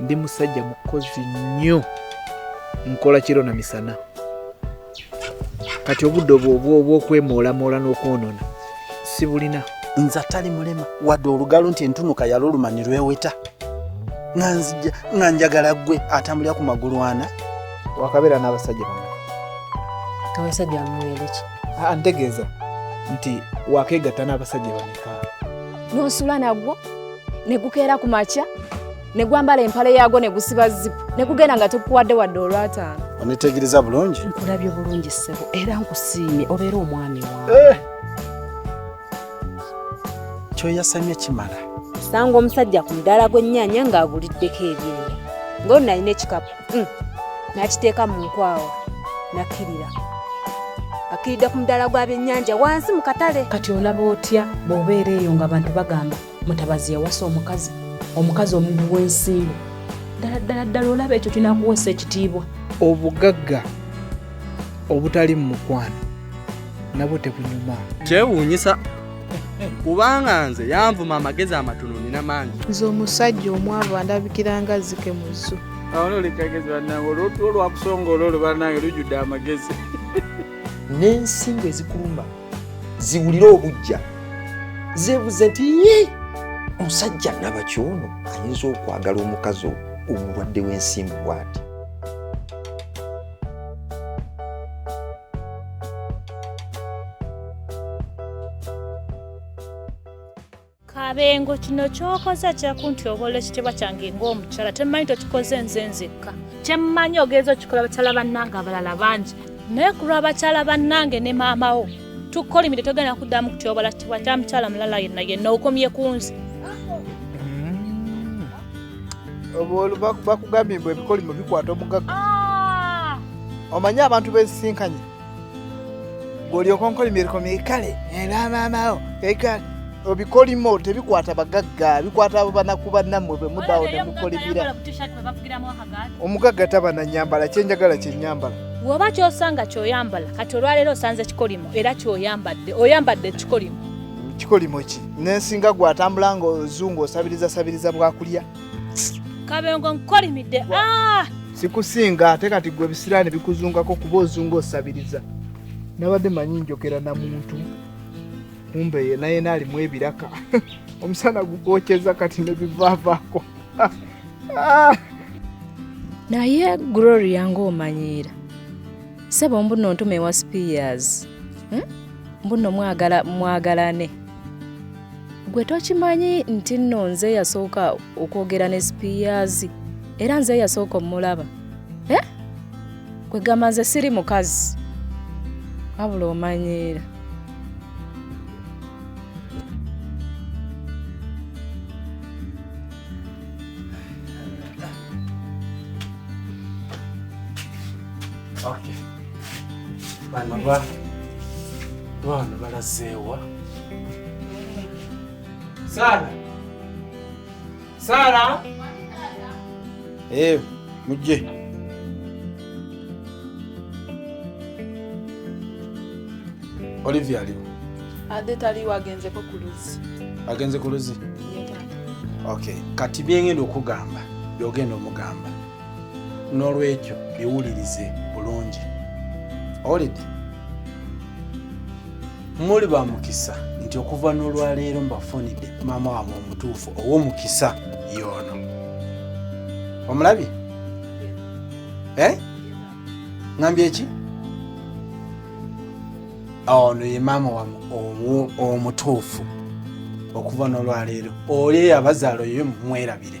ndi musajja mukozi nnyo nkola kiro na misana kati obudde obwo obw'okwemoolamola n'okwonona sibulina nze atali mulema wadde olugalo nti entunuka yaluluma ne lweweta nga njagala gwe atambulira ku magulu ana wakabeera n'abasajja bana abasajja bamuweereki ah, ntegeeza nti wakeegatta n'abasajja bameka n'osula nagwo ne gukeera ku makya ne gwambala empale yaago ne gusiba zipu ne gugenda nga tukuwadde wadde olwataano onitegereza bulungi nkulabye bulungi ssebo era nkusiimye obeera omwami wa eh! kyoyasamye kimala sanga omusajja ku mudaala gw'ennyaanya ng'aguliddeko ebyenda ng'ono nalina ekikapu mm. nakiteeka mu nkwawa nakkirira akkiridde ku mudaala gwa byennyanja wansi mu katale kati olaba otya bw'obeera eyo nga abantu bagamba mutabazi yawasa omukazi omukazi omuntu w'ensimbu ddala ddala ddala olaba ekyo kinakuwesa ekitiibwa obugagga obutali mu mukwano nabwo tebunyuma kyewuunyisa kubanga nze yanvuma amagezi amatono nina mangi nze omusajja omwavu andabikira nga zike mu zzu awo noli kagezi banange olwotu olwakusonga olwo olwo banange lujjudde amagezi n'ensingo ezikuluma ziwulire obujja zebuze nti omusajja nabaki ono ayinza okwagala omukazi omulwadde w'ensimbu bwati kabengo kino kyokoze kyakunti obola ekitibwa kyange ngaomukyala temanyi tokikoze nze nzekka kyemmanyi ogenza okikola bakyala bannange abalala bangi naye kulwa bakyala bannange ne maamawo tukolimire togenda kuddamu kutyobola kitibwa kya mukyala mulala yenna yenna okomye ku nze bakugambye mbu ebikolimo bikwata omugaga ah! omanyi abantu bensisinkanye olyoka onkola emiriko mikale era maamawo ekale obikolimo tebikwata bagagga bikwata abo banaku banammwe bwe mudawo ne mukolimira omugagga taba na nyambala kyenjagala kyenyambala woba kyosanga kyoyambala kati olwaleero osanze kikolimo era kyoyambadde oyambadde ekikolimo kikolimo ki nensinga gwatambula nga ozungu osabiriza sabiriza bwakulya kabengo nkolimidde ah! sikusinga ate kati gwe ebisiraani bikuzungako kuba ozunga osabiriza nabadde manyi njogera na muntu kumbe yena yena alimu ebiraka omusana gugokyeza kati nebivavako ah! naye gloria ngaomanyiira sebo mbuno ntuma ewa spears hmm? mbuno mwagala mwagalane gwe tokimanyi nti nno nze yasooka okwogera ne sipiyaazi era nze yasooka omulaba e eh? gwe gamba nze siri mukazi wabula omanyiira Okay. bano ba bano balazeewa saala saala ee mujje olivia aliwo ade taliwo agenzeko ku luzzi agenze ku luzzi okay kati byengenda okugamba byogenda omugamba n'olwekyo biwulirize bulungi olidi muli ba mukisa nti okuva n'olwaleero mbafunidde maama wamwe omutuufu ow'omukisa yoono omulabye eh? ngambye eki ono ye maama wamwe omutuufu okuva n'olwaleero oli eyabazaala oyo mumwerabire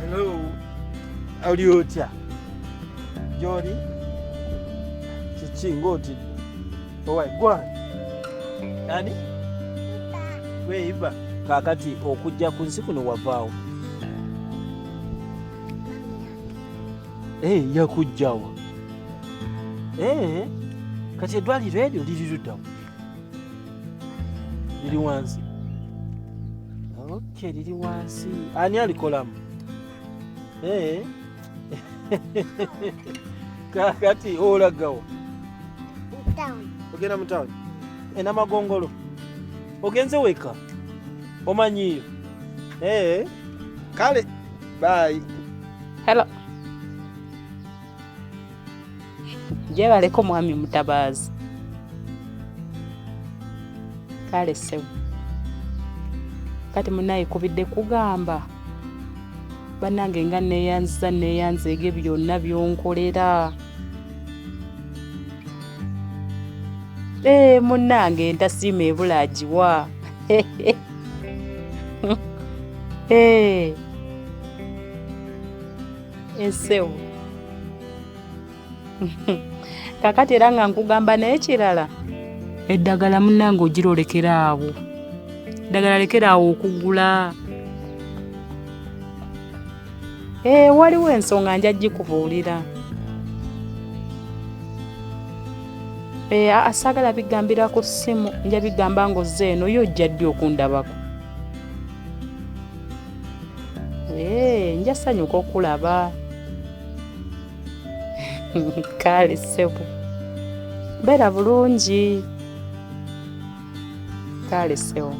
Hello. Oli otya? Gyoli? Kiki ng'otidde? Owai gwani? Ani? Gwe Iba. Kaakati okujja ku nsi kuno wavaawo? Ee, eh, yakujjawa. Ee, eh, kati eddwaliro eryo liri luddawa? liri wansi okay liri wansi ani alikolamu hey. Eh? kakati olagawa ogenda mu tawuni enamagongolo ogenze weka omanyiyo ee eh, kale bayi helo gyebaleko mwami mutabaazi kale ssebo kati munaye kubidde kugamba banange nga neyanziza neyanzeege byonna byonkolera ee eh, munnange entasiima ebula agiwa ee eh. ensewo kakati era nga nkugamba naye kirala eddagala munange ogira olekera awo eddagala lekera awo okugula ee eh, waliwo ensonga nja gikubuulira ee eh, asagala bigambira ku ssimu nja bigamba ng'ozze eno yo ojja ddi okundabako Hey, nja sanyuka okulaba kale ssebo beera bulungi kale ssebo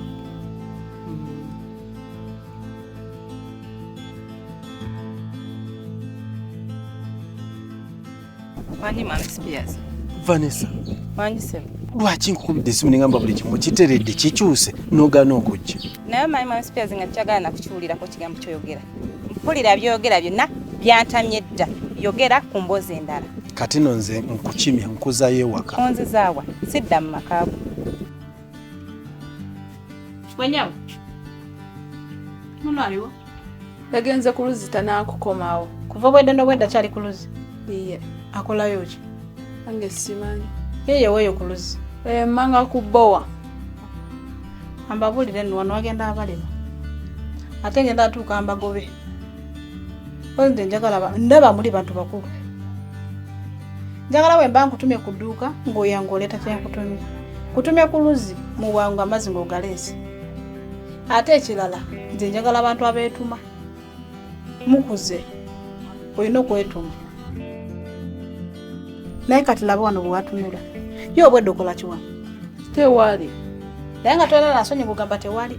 Wanyi mami Spears. Vanessa. Wanyi sebo. Lwaki nkukubidde esimu nengamba buli kimu kiteredde kikyuse n'ogaana okujja. Naye manyi mami Spears nga tukyagala nakukiwulirako kigambo kyoyogera. Mpulira by'oyogera byonna byantamye dda. Yogera ku mboozi endala. Kati no nze nkukimya nkuzayo ewaka. Onzizaawa sidda mu makaago. Mwenyewe muno aliwo yagenze ku luzzi tanaakukomawo kuva obwedda n'obwedda kyali ku luzzi iye akolayo ki ange simanyi yeye weeyo ku luzzi emmanga eh, ku bbowa ambabuulire nno wano wagenda abalema ate ngenda atuuka mbagobe nze njagala ndaba muli bantu bakulu njagala wemba nkutumye ku dduuka ng'oyanga oleeta kyenkutumye kutumye ku luzzi mu bwangu amazzi ng'ogaleese ate ekirala nze njagala abantu abeetuma mukuze olina okwetuma naye kati laba wano bwewatunula ye obwedde okola kiwano tewaali naye nga tolala nsonyi kugamba tewaali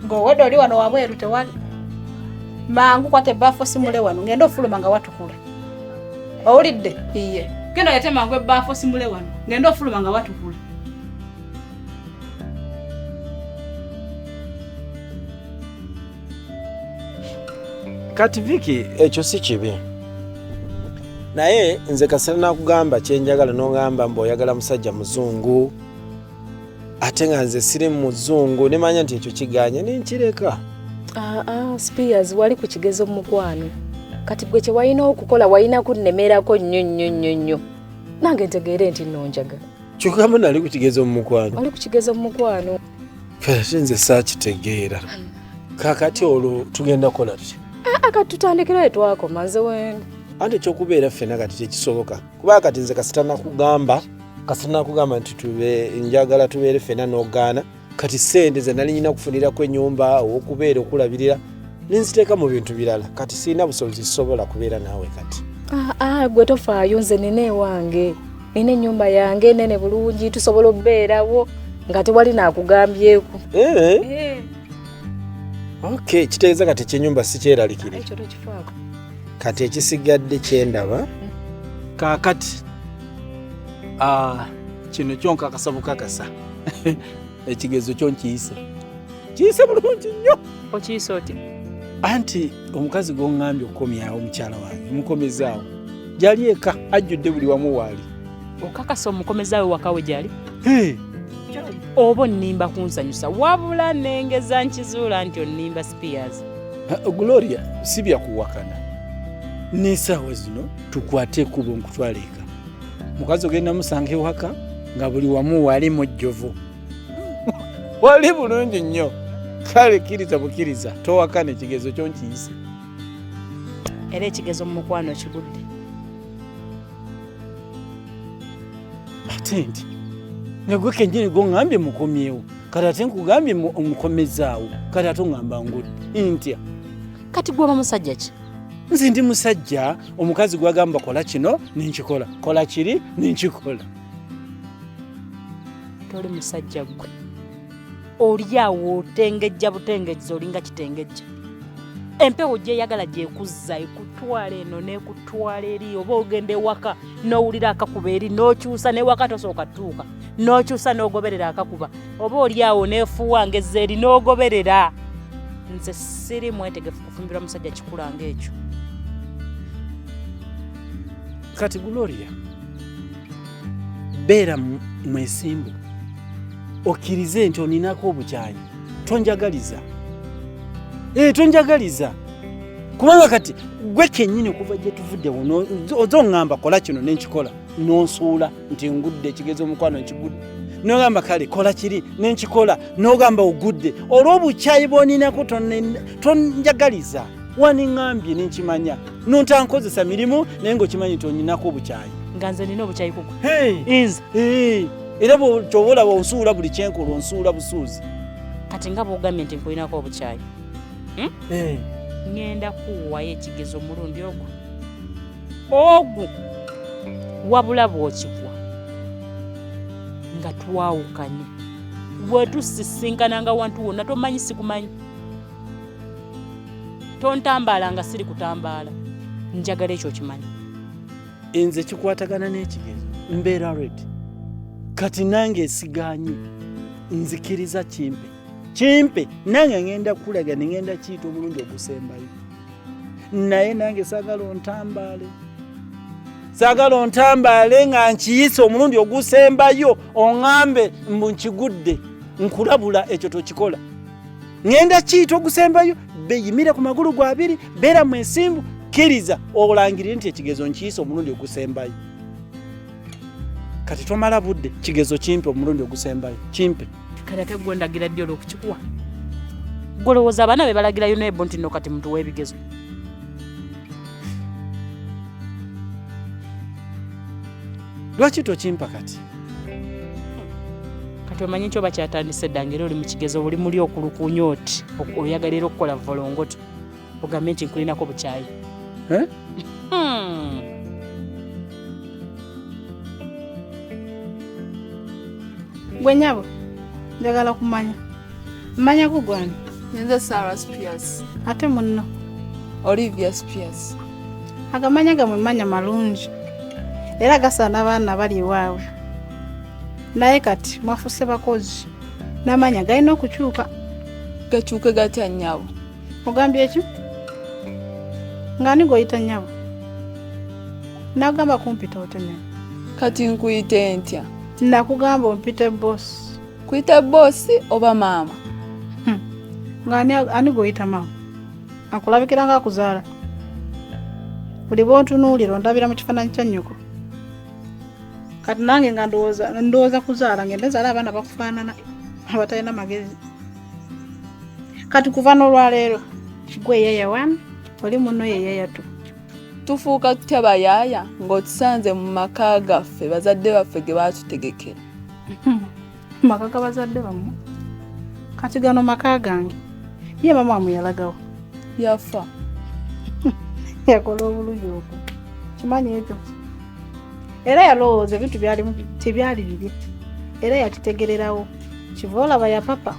ng'owedde oli wano wabweru tewali mangu kwata ebbaafu osimule wano ng'enda ofuluma nga watukula owulidde iye genda olete mangu ebbaafu osimule wano ng'enda ofuluma nga watukula kati viki ekyo si kibi naye nze kasana nakugamba kyenjagala nongamba mbu oyagala musajja muzungu ate nga nze siri muzungu nemanya nti ekyo kiganye nenkireka ah, ah, spears wali ku kigezo mumukwano kati gwe kyewalina okukola walina kunnemerako nnyo nnyo nnyo nnyo nange ntegeere nti nonjaga kyokamu nali ku kigezo mumukwano wali ku kigezo mumukwano kati nze saakitegeera kakati olwo tugenda kukola tutya ah, kati tutandikirayo twakoma nze wena ante ekyokubeera ffena kati tekisoboka kuba kati nze kasita nakugamba kasita nakugamba nti tube njagala tubeere fena nogaana kati sente ze nali nyina kufunirako enyumba okubeera okulabirira ninziteeka mu bintu birala kati sirina busobozi zisobola kubeera naawe kati ah, ah, gwe tofaayo nze nina ewange nina enyumba yange nene bulungi tusobola okubeerawo nga tewali nakugambyeku eh? eh. ok kitegeeza kati ekyenyumba sikyeralikire kati ekisigadde kyendaba kaakati ah, kino kyonkakasa bukakasa ekigezo kyo nkiyise kiyise bulungi nnyo okiyise oti anti omukazi gwoŋŋambye okukomyawo omukyala wange mukomezaawo gyali eka ajjudde buli wamu waali okakasa omukomezaawo wakawe gyali oba onnimba kunsanyusa wabula nengeza nkizuula nti onnimba peers gloria si byakuwakana n'esaawa zino tukwate ekubo nkutwala eka mukazi ogenda musanga ewaka nga buli wamu wali mujjovu wali bulungi nnyo kale kkiriza bukkiriza towakana ekigezo kyo nkiyise era ekigezo mu mukwano kigudde ate nti nga gwe kenyini gongambye mukomyewo kati ate nkugambye omukomezaawo kati ate ongamba ngudde ntya kati gwaba musajja ki nze ndi musajja omukazi gwagamba kola kino nenkikola kola kiri nenkikola toli musajja gwe olyawo otengejja butengejja olinga kitengejja empewo gyeyagala gyekuzza ekutwala eno nekutwala eri oba ogenda ewaka nowulira akakuba eri nokyusa newaka tosooka tuuka n'okyusa n'ogoberera akakuba oba oli awo neefuuwa ngezza eri n'ogoberera nze siri mwetegefu kufumbirwa musajja kikula ng'ekyo kati gloria beera mwesimbu okkirize nti oninako obukyayi tonjagaliza ee eh, tonjagaliza kubanga kati gwe kennyini okuva gye tuvuddewo oza oŋŋamba kola kino ne nkikola n'onsuula nti ngudde ekigezi omukwano nkigudde nogamba kale kola kiri nenkikola nogamba ogudde olw'obukyayi bwoninako tonjagaliza waniŋambye nenkimanya nontankozesa mirimu naye ngaokimanyi nti onyinako obukyayi nga nze nina obukyayi kugo inza era kyoba olaba onsuula buli kyenkola onsuula busuuzi kati nga bwogambye nti nkulinako obukyayi hmm? ngenda kuwayo ekigezo omulundi ogwo ogwo wabula bwokigwa nga twawukanye bwetusisinkana nga wantu wonna tomanyi sikumanyi tontambaala nga siri kutambaala njagala ekyo kimanyi nze kikwatagana n'ekigezo mbeera red kati nange esiganye nzikiriza kimpe kimpe nange ngenda kulaga nengenda kiyita omulundi ogusembayo naye nange sagala ontambaale sagala ontambaale nga nkiyise omulundi ogusembayo oŋambe mbu nkigudde nkulabula ekyo tokikola ŋenda kiyita ogusembayo beyimire ku magulu gwa abiri beera mwesimbu kkiriza olangirire nti ekigezo nkiyise omulundi ogusembayo kati tomala budde kigezo kimpe omulundi ogusembayo kimpe kati ate gwendagira ddi olwokukikuwa golowooza abaana be balagirayo nebo nti no kati mutuwa ebigezo lwaki tokimpa kati kati omanyi nti oba kyatandise dda ngaera oli mu kigezo oli muli okulukunya oti oyagalera okukola volongoto ogambye nti nkulinako bukyayi eh? hmm. gwe nyabo njagala kumanya mmanya kugwani nze sarah spears ate munno olivia spears agamanya gamwe manya malungi era gasaana abaana bali ewaabwe naye kati mwafuse bakozi n'amanya galina okukyuka gakyuke gatya nnyabo ogambye ekyo ng'ani gweoyita nnyabo nagamba kumpita otemera kati nkuyite ntya nakugamba ompite bosi kuyita bosi oba maama hmm. ng'ani ani gweoyita maama akulabikira nga akuzaala buli bwontunuulira ondabira mu kifaananyi kya nnyoko kati nange nga ndowooza kuzaala ngende zaala abaana bakufaanana abatalina magezi kati kuva n'olwaleero gwe yaya wani oli muno ye yaya tu tufuuka tutya bayaaya ng'otusanze mu maka gaffe bazadde baffe ge baatutegekera maka ga bazadde bamu kati gano maka gange ye mama amuyalagawo yafa yakola obulungi obwo kimanyi ekyo era yalowooza ebintu byalimu tebyali bibye era yakitegererawo kiva olaba yapapa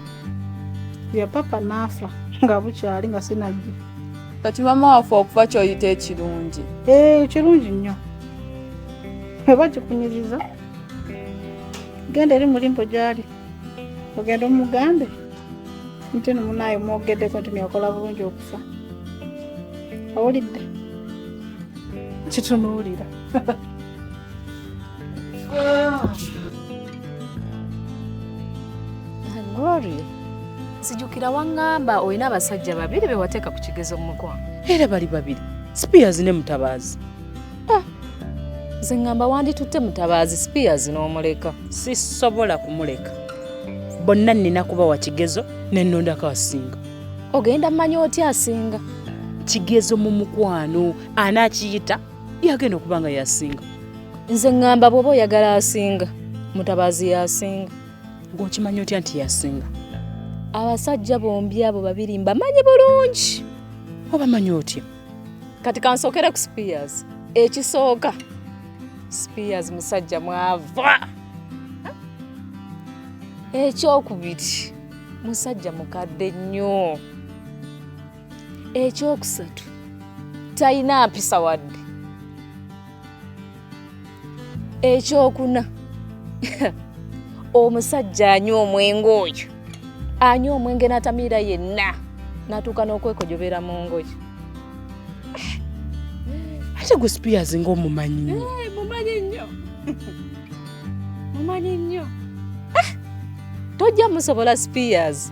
yapapa naafa nga bukyali nga sinajja kati mama waffe okufa kyoyita ekirungi eh, kirungi nnyo oba kikunyiriza genda eri mulimbo gyali ogenda omugambe nti no munaayo mwogeddeko nti neyakola bulungi okufa awulidde kitunuulira Gloria, nzijukira waŋŋamba olina abasajja babiri be wateeka ku kigezo mu mukwano. Era bali babiri, Spears ne Mutabaazi. Ah, nze ŋŋamba wanditutte Mutabaazi Spears n'omuleka. Sisobola kumuleka. Bonna nnina kubawa kigezo ne nnondako asinga. Ogenda mmanya otya asinga? Kigezo mu mukwano anaakiyita yagenda okuba nga yasinga nze ŋŋamba bw'oba oyagala asinga mutabaazi yasinga ng'okimanya otya nti yasinga abasajja bombi abo babiri mbamanyi bulungi obamanyi otya kati kansokere ku spears ekisooka spears musajja mwava ekyokubiri musajja mukadde nnyo ekyokusatu talina mpisa wadde ekyokuna omusajja anywa omwenge oyo anywa omwenge n'atamiira yenna natuuka n'okwekojobera mu ngoye ate gwe spears ngaomumanyi nyo eh, mumanyi nnyo mumanyi nnyo eh, tojja musobola spears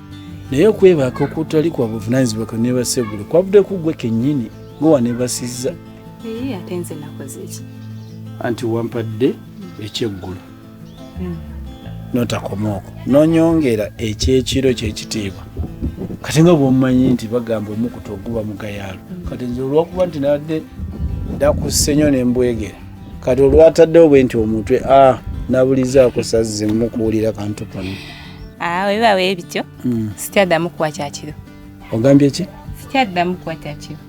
naye okwebaka okutali kwa buvunanyizibwa kwe nebasegulo kwavudde ku gwe kennyini gwe wanebasizza ate nze nakozeki anti wampadde ekyeggulo hmm. notakomaoko nonyongera ekyekiro kyekitiibwa kati nga bwomumanyi nti bagamba omukutu oguba mugayaalo hmm. kati nze olwokuba nti nadde dakusenyo nembwegera kati olwataddewo bwe nti omutwe a ah, nabulizaako sazze mukuwulira kantu kano Ah, webiba bwe bityo hmm. sikyaddamu kuwa kyakiro ogambye ki sikyaddamu kuwa kyakiro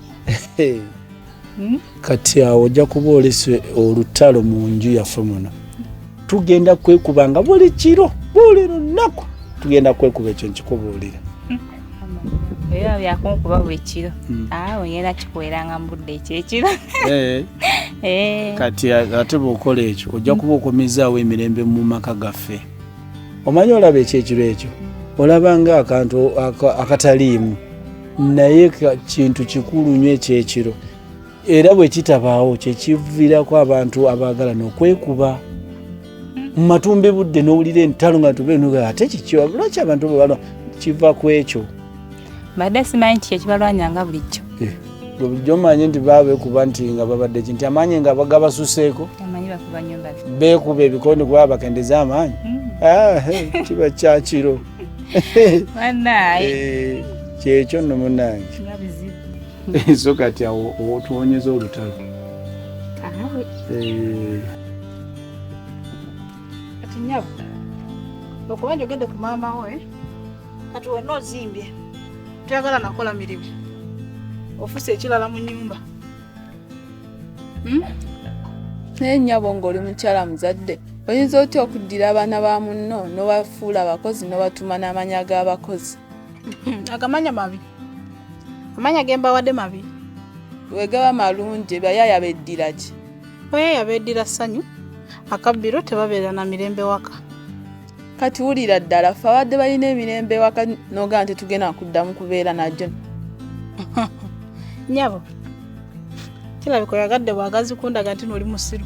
hmm? kati awo ojja kuba olese olutalo mu nju yaffe muno tugenda kwekuba nga buli kiro buli lunaku tugenda kwekuba ekyo nkikubuulira hmm. era byakunkuba buli kiro awo ah, ngenda kikuweranga mu budde ekyo ekiro eh. Eh. kati ate bwokola ekyo ojja kuba okomezaawo emirembe mu maka gaffe omanyi olaba ekyekiro ekyo olabanga akantu akataliimu naye kintu kikulu nyo ekyekiro era bwe kitabaawo kyekivirako abantu abaagala nokwekuba mu matumbi budde nowulira entalo nga tube ate kikyo lwaki abantu bwebalo kiva ku ekyo mbadde simanyi nti kyekibalwanya nga bulijjo eh. bulijjo manyi nti babekuba nti nga babadde ki nti amaanyi nga bagabasuseeko bekuba ebikondi kuba bakendeza amaanyi hmm. ah, kiba kyakiro eh, kyekyo nno munange so kati awo otuwonyeza olutalo eh. okuba njogedde ku maama we kati wonna ozimbye toyagala nakola mirimu ofuse ekirala mu nyumba hmm? naye nyabo ngaoli mukyala muzadde oyinza otya okuddira abaana ba munno nobafuula abakozi nobatuma n'amanya g'abakozi agamanya mabi amanya gembawadde mabi wegaba malungi bayaya beddira ki bayaya beddira ssanyu akabbiro tebabeera na mirembe waka kati wulira ddala fe abadde balina emirembe ewaka nogaa nti tugenda kuddamu kubeera najo nyabo kirabika oyagadde bwagazi kundaga nti noli musiru